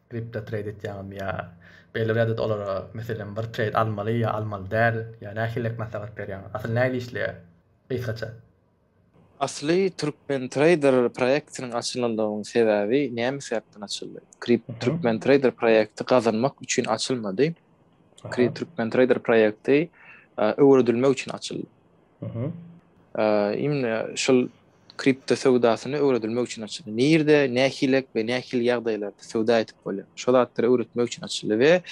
klipde treýd etýäňizmi ýa beýle bir ýagdaýda olara meselem bir treýd almaly ýa almaly däl ýa nähiliräk maslahat berýäňiz asyl nähili işleýär gysgaça. Asly Türkmen Trader proýektiniň açylandygynyň sebäbi näme sebäpden açyldy? Krip Türkmen Trader proýekti gazanmak üçin açylmady. Krip Türkmen Trader proýekti öwredilmek üçin açyldy. Aha. Indi şol kripto söwdasyny öwredilmek üçin açyldy. Nirde, nähilek we nähili ýagdaýlarda söwda edip bolýar? Şol zatlary öwretmek üçin açyldy we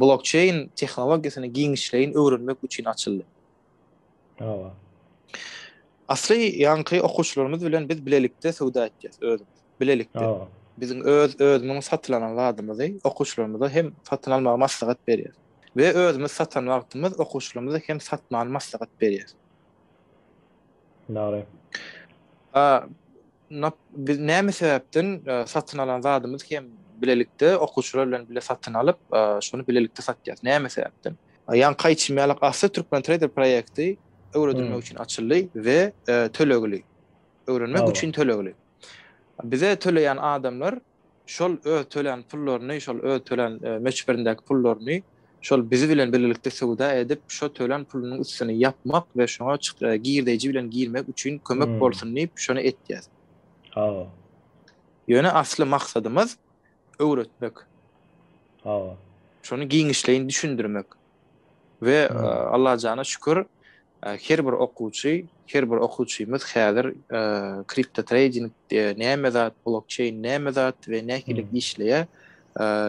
blokçeýn tehnologiýasyny giňişleýin öwrenmek üçin açyldy. Hawa. Asly ýaňky okuwçylarymyz bilen biz bilelikde söwda etýäs özümiz. Bilelikde. Hawa. Biziň öz özümiň satylan zadymyzy okuwçylarymyza hem satyn almagy maslahat berýäs. We özümiz satan wagtymyz okuwçylarymyza hem satmany maslahat berýäs. Dogry. A Nap, biz näme sebäpden satyn alan zadymyzy hem bilelikde okuwçylar bilen bile satyn alyp, şony bilelikde satýarys. Näme sebäpden? Ýa gaýçym ýalak asty Türkmen Trader proýekti öwredilmek üçin açyldy we tölegli. Öwrenmek üçin tölegli. Bize töleýän adamlar Şol öz tölän pullaryny, şol öz tölän möçberindäki pullaryny şol bizi bilen birlikde söwda edip, şo tölän pulunyň üstüni ýapmak we şoňa girdeýji bilen girmek üçin kömek bolsun diýip şony etýäs. Hawa. Ýöne asly maksadymyz öwretmek. Hawa. Şony giňişleýin düşündirmek. We Allajana şükür her bir okuwçy, her bir okuwçymyz häzir kripto treýding näme zat, blokçeýn näme zat we nähili işleýär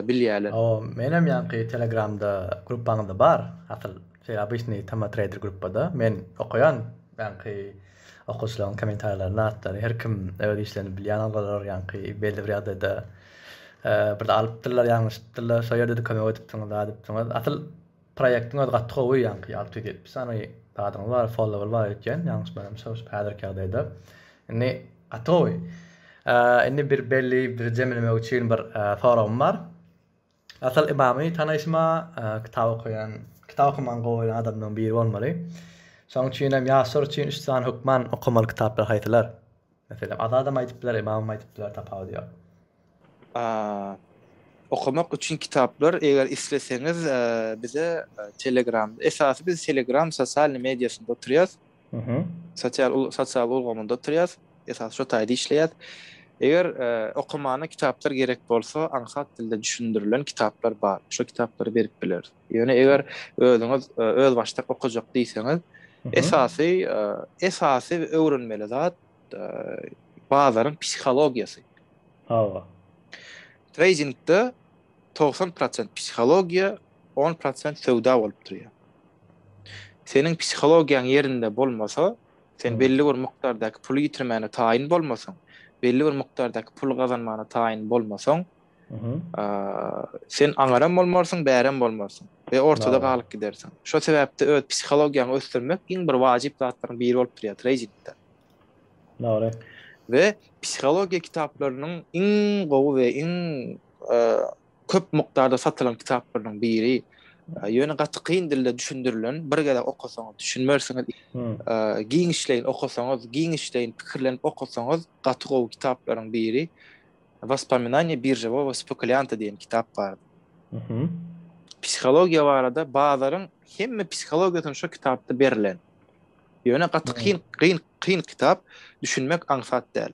bilýärler. Hawa, menem ýaňky telegramda gruppaňyzda bar, asyl şeýle obyçnyý tmtrader gruppada men okaýan ýaňky. Okuwçylaryň kommentariýalaryny atlary her kim öz işlerini bilýän oglanlar ýaňky belli bir ýagdaýda birde alypdyrlar ýalňyşypdyrlar şo ýerde-de kömek edipsiňiz zat edipsiňiz asyl proýektiň özi gaty gowy ýaňky alty ýüz ýetmiş sany zadyňyz bar followeri bar öýtýän ýalňyşmanymça şu häzirki ýagdaýda indi gaty gowy indi bir belli bir jemlemek üçin bir soragym bar Asal ymamy tanaýşyma kitap okaýan, kitap okamagyny gowy görýän adamlaryň biri bolmaly. Şonuň üçin hem ýaşlar üçin üç sany hökman okamaly kitaplar haýsylar? Meselem, Azadam aýdypdylar, ymamam aýdypdylar, tapawudy ýok. Okamak üçin kitaplar eger isleseňiz bize telegramda, esasy biz telegram sosialnyý mediasynda oturýas, Sosial sosial ulgamynda oturýas. Esasy şo taýda işleýäs. Eger okamana kitaplar gerek bolsa, aňsat dilde düşündirilen kitaplar bar. Şo kitaplary berip bileris. Ýöne eger özüňiz özbaşdak okajak diýseňiz, esasy esasy öwrenmeli zat bazaryň psihologiýasy. Hawa. Treýdingde togsan prosent psihologiýa, 10 prosent söwda bolup durýar. Seniň psihologiýaň ýerinde bolmasa, sen belli bir mukdardaky puly ýitirmäne taýyn bolmasaň, belli bir mukdardaky puly gazanmana taýyn bolmasaň, sen aňaram bolmarsyň, bärem bolmarsyň we ortada galyp gidersiň. Şo sebäpde öz psihologiýaňy ösdürmek iň bir wajyp zatlaryň biri bolup durýar treýdingde. Dogry. We psihologiýa kitaplarynyň iň gowy we iň Köp mukdarda satylan kitaplarynyň biri. Ýöne gaty kyn dilde düşündirilen, bir gezek okasaňyz düşünmersiňiz. Giňişleýin okasaňyz, giňişleýin pikirlenip okasaňyz gaty gowy kitaplaryň biri. Waspominaniýa biržewogo spekulýanta diýen kitap bardy. Psihologiýa barada bazaryň hemme psihologiýasyny şo kitapda berlen. Ýöne gaty kyn, kyn, kyn kitap, düşünmek aňsat däl.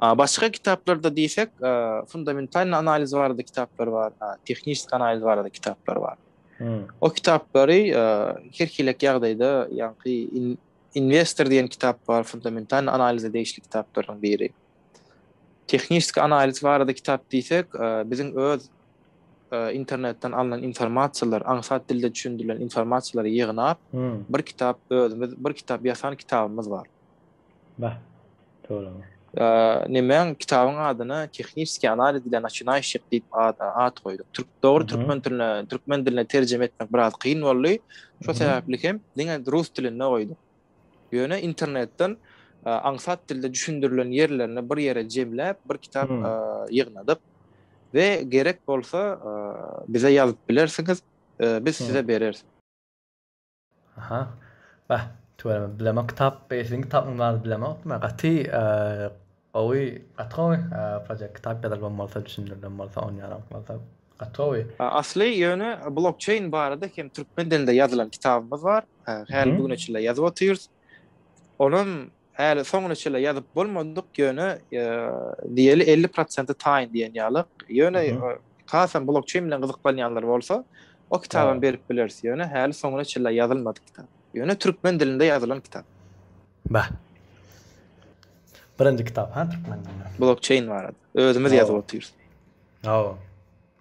A başga kitaplarda diýsek, fundamentalny analiz barada kitaplar bar, tehnisk analiz barada kitaplar bar. O kitaplary her hilek ýagdaýda, ýagny investor diýen kitap bar, fundamentalny analize degişli kitaplaryň biri. Tehnisk analiz barada kitap diýsek, biziň öz internetden alnan informasiýalar, aňsat dilde düşündirilen informasiýalary ýygnap, bir kitap özümiz, bir kitap ýasan kitabymyz bar. Bah, tolama. Nemäň kitabyň adyna tehniskiý analiz diýlen naçinaýşik diýip at goýduk. Türk dogry türkmen diline, türkmen diline terjime etmek biraz kyn boldy. Şo sebäpli hem diňe rus dilinde goýduk. Ýöne internetden aňsat dilde düşündirilen ýerlerini bir ýere jemläp, bir kitap ýygnadyk. We gerek bolsa bize ýazyp bilersiňiz, biz size bereris. Aha. Bah, tüweleme bileme kitap beýleki kitapyň zady bileme. Gaty gowy, gaty gowy projekt kitap ýazylan bolsa, düşündirilen bolsa, on ýalam bolsa gaty gowy. Asly ýöne blokçeýn barada hem türkmen dilinde ýazylan kitabymyz bar. Häli bu güne çenli ýazyp otyrs. Onam Häli soňuna çenli ýazyp bolmadyk, ýöne diýeli elli prosenti taýyn diýen ýaly. Ýöne haçan blokçeýn bilen gyzyklanýanlar bolsa, o kitaby berip bileris. Ýöne häli soňuna çenli ýazylmadyk kitap. Ýöne türkmen dilinde ýazylan kitap. Bah. Birinji kitap ha türkmen dilinde. Blokçeýn barada. Özümiz ýazyp otyrys. Hawa.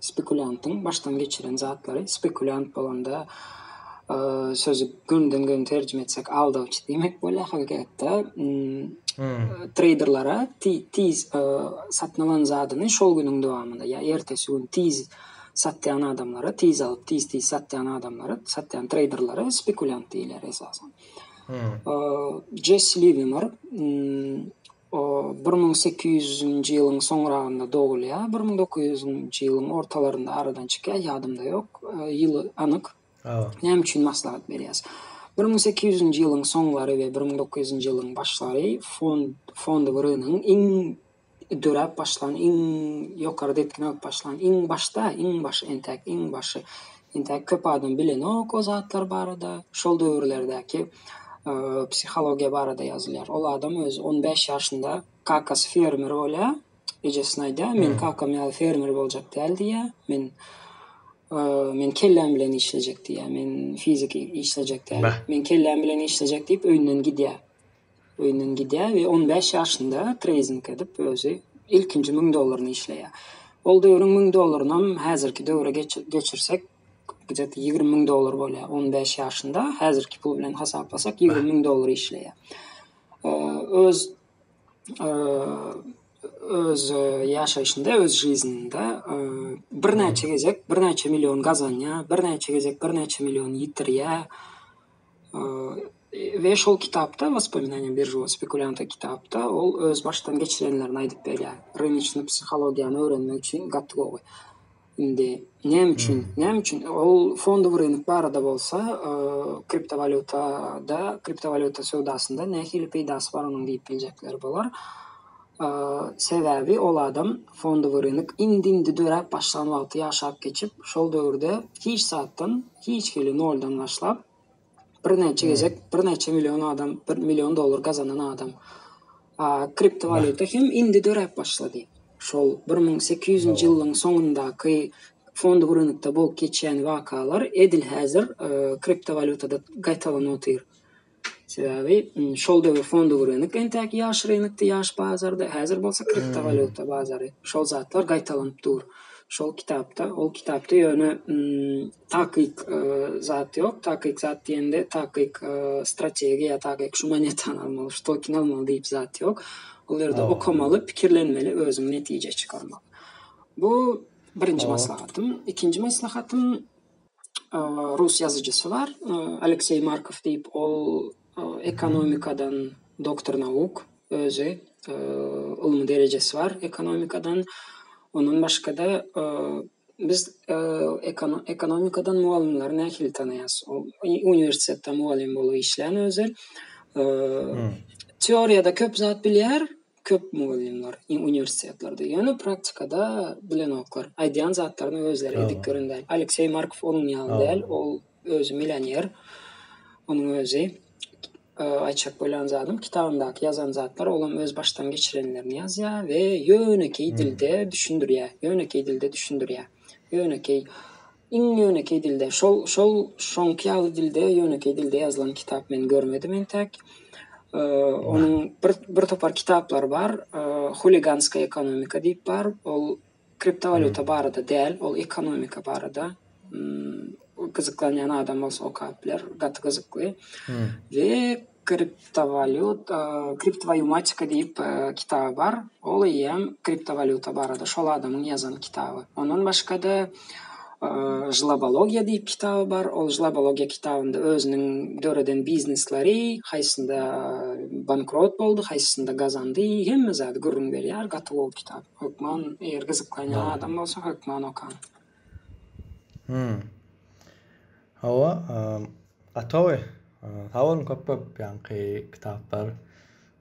Spekulýantyň başdan geçiren zatlary, spekulýant bolanda sözi göninden göni terjime etsek aldawçy diýmek bolýar hakykatda. Treýderlere tiz satyn alan zadyny şol günüň dowamynda ýa ertesi gün tiz satýan adamlara tiz alyp tiz tiz satýan adamlara satýan treýderlere spekulýant diýilýär esasan. Jess Liwimor O bir müň sekiz ýüzünji ýylyň soňragynda dogulýar, bir müň dokuz ýüzünji ýylyň ortalarynda aradan çykýar, ýadymda ýok, ýyly anyk. Näme üçin maslahat berýäs? Bir müň sekiz ýüzünji ýylyň soňlary we bir müň dokuz ýüzünji ýylyň başlary fond, fondowy rynogyň iň döräp başlan, iň ýokary depgini alyp başlan, iň başda, iň baş, entäk iň başy, Entäk köp adam bilenok o zatlar barada. Şol döwürlerdäki psihologiýa barada ýazylýar. Ol adam özi on bäş ýaşynda kakasy fermer bolýa, ejesine aýdýa, men kakam ýaly fermer boljak däl diýýä, men men kelläm bilen işlejek diýýä, men fiziki işlejek däl, men kelläm bilen işlejek diýip öýünden gidýä. öýünden gidýär we on bäş ýaşynda treýding edip özi ilkinji müň dollaryny işleýär. Ol döwrüň müň dollaryny häzirki döwre geçirsek gidip ýigrimi müň dollar bolýar. On bäş ýaşynda häzirki pul bilen hasaplasak ýigrimi müň dollar işleýär. Öz öz ýaşaýşynda öz žýzninde birnäçe gezek birnäçe million gazanýar, birnäçe gezek birnäçe million ýitirýär. we şol kitapda, Wospominaniýa biržowy spekulýanta kitapda ol öz başdan geçirenlerini aýdyp berýär. Rynocnyý psihologiýany öwrenmek üçin gaty gowy. Indi näme üçin, näme üçin ol fondowy rynyk barada bolsa, kriptowalýutada, kriptowalýuta söwdasynda nähili peýdasy bar onuň diýip biljekler bolar. Sebäbi ol adam fondowy rynyk indi-indi döräp başlan wagty ýaşap geçip, şol döwürde hiç zatdan, hiç hili noldan başlap, birnäçe gezek birnäçe million adam, million dollar gazanan adam. Kriptowalýuta hem indi döräp başlady. Şol bir müň sekiz ýüzünji ýylyň soňundaky fondowy rynykda bolup geçýän wakalar edil häzir kriptowalýutada gaýtalanýar otyr. Sebäbi şol döwür fondy görenik entäk ýaş rynokda ýaş bazarda häzir bolsa kriptowalýuta bazary şol zatlar gaýtalanyp dur şol kitapda ol kitapda ýöne takyk zat ýok takyk zat diýende takyk strategiýa takyk şu monetany almaly şu tokeni almaly diýip zat ýok ol ýerde okamaly pikirlenmeli özüň netije çykarmaly bu birinji maslahatym ikinji maslahatym rus ýazyjysy bar, Alekseý Markow diýip. Ol ekonomikadan doktor nauk özi, ylmy derejesi bar ekonomikadan. Ondan başga-da biz ekonomikadan mugallymlary nähili tanaýas? Ol uniwersitetde mugallym bolup işlän özi. Teoriýada köp zat bilýär, köp mugallymlar, uniwersitetlerde, ýöne praktikada bilenoklar. Aýdýan zatlaryny özleri edip gören däl. Alekseý Markow onuň ýaly däl, ol özi millioner. Onuň özi aýtjak bolýan zadym, kitabyndaky ýazan zatlar olam öz başdan geçirenlerini ýazýar we ýönekeý dilde düşündirýär, ýönekeý dilde düşündirýär. Ýönekeý Iň ýönekeý dilde, şol, şol şoňky ýaly dilde, ýönekeý dilde ýazylan kitap men görmedim entäk. Onuň bir, bir topar kitaplary bar, Huliganskaýa ekonomika diýip bar, ol kriptowalýuta barada däl, ol ekonomika barada. Gyzyklanýan adam bolsa okap biler, gaty gyzykly. We Kriptowalýuta, Krip twoýu maçka diýip kitaby bar. Ol eýýäm kriptowalýuta barada şol adamyň ýazan kitaby. Ondan başga-da Žlobologiýa diýip kitaby bar. Ol Žlobologiýa kitabynda özüniň döreden biznesleri, haýsysynda bankrot boldy, haýsysynda gazandy, hemme zady gürrüň berýär. Gaty gowy kitap. Hökman, eger gyzyklanýan adam bolsa, hökman okaň. Hmm. Hawa, gatawy. Sag boluň köp köp ýaňky kitaplar.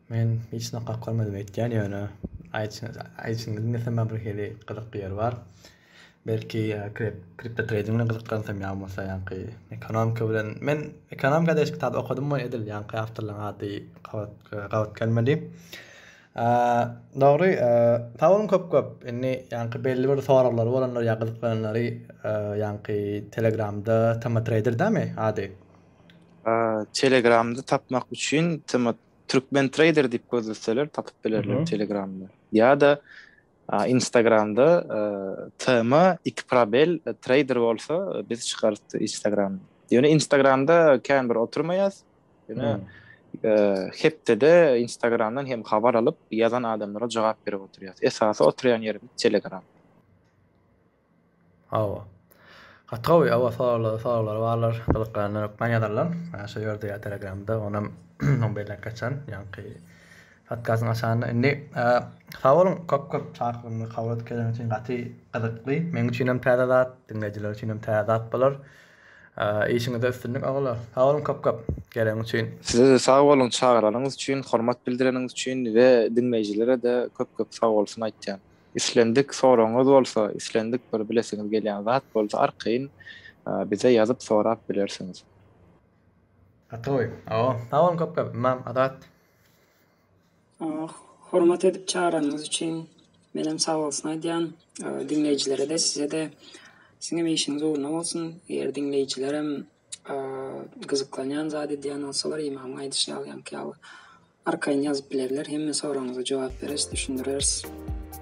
Men hiç zat gap görmedim eýtýän ýöne aýtýan aýdyşyňyzy diňlesem bir hili gyzykly ýeri bar. Belki kripto treýdinge gyzyklansaň ýa bolmasa ýaňky ekonomika bilen men ekonomika diýen kitap okadym we edil ýaňky awtorlaryň ady gabat gabat gelmedi. Dogry, sag boluň köp köp. Indi ýaňky belli bir soraglary bolanlar ýa gyzyklananlary ýaňky telegramda tmtrader dämi ady? Telegramda tapmak üçin tm türkmen trader diýip gözleseler tapyp bilerler telegramda. Ýa-da instagramda tm iki probel trader bolsa biz çykaryp instagram. Ýöne instagramda kän bir oturmaýas. Ýöne hepdede Instagramdan hem habar alyp, ýazan adamlara jogap berip oturýas. Esasy oturýan ýerimiz Telegram. Hawa. Gatawy awa sorlar, sorlar barlar, gyzyklanlar ökman ýazarlar. Şu ýerde ýa Telegramda, onam on belläp geçen, ýaňky podkastyň aşagynda. Indi sag boluň, köp-köp çakylygymy kabul edip geleniň üçin gaty gyzykly. Meň üçin hem täze zat, diňleýjiler üçin hem täze zat bolar. Işiňizde üstünlik agla. Sag boluň köp köp geregiň üçin. Sizede sag boluň çagyranyňyz üçin hormat bildireniňiz üçin we diňleýjilerede köp köp sagbolsun aýtýan. Islendik soragyňyz bolsa islendik bir bilesiňiz gelýän zat bolsa arkaýyn bize ýazyp sorap bilersiňiz. Gaty gowy. Sag boluň köp köp Ymam Azat. Hormat edip çagyranyňyz üçin menem sag bolsun aýdýan. Diňleýjilere-de, size-de siziň hem işiňiz ugruna bolsun. Eger diňleýjilerem gyzyklanýan zat edýän bolsalar, ymamyň aýdyşy ýaly, ýaňky ýaly arkaýyn ýazyp bilerler. Hemme soragyňyza jogap bereris, düşündireris.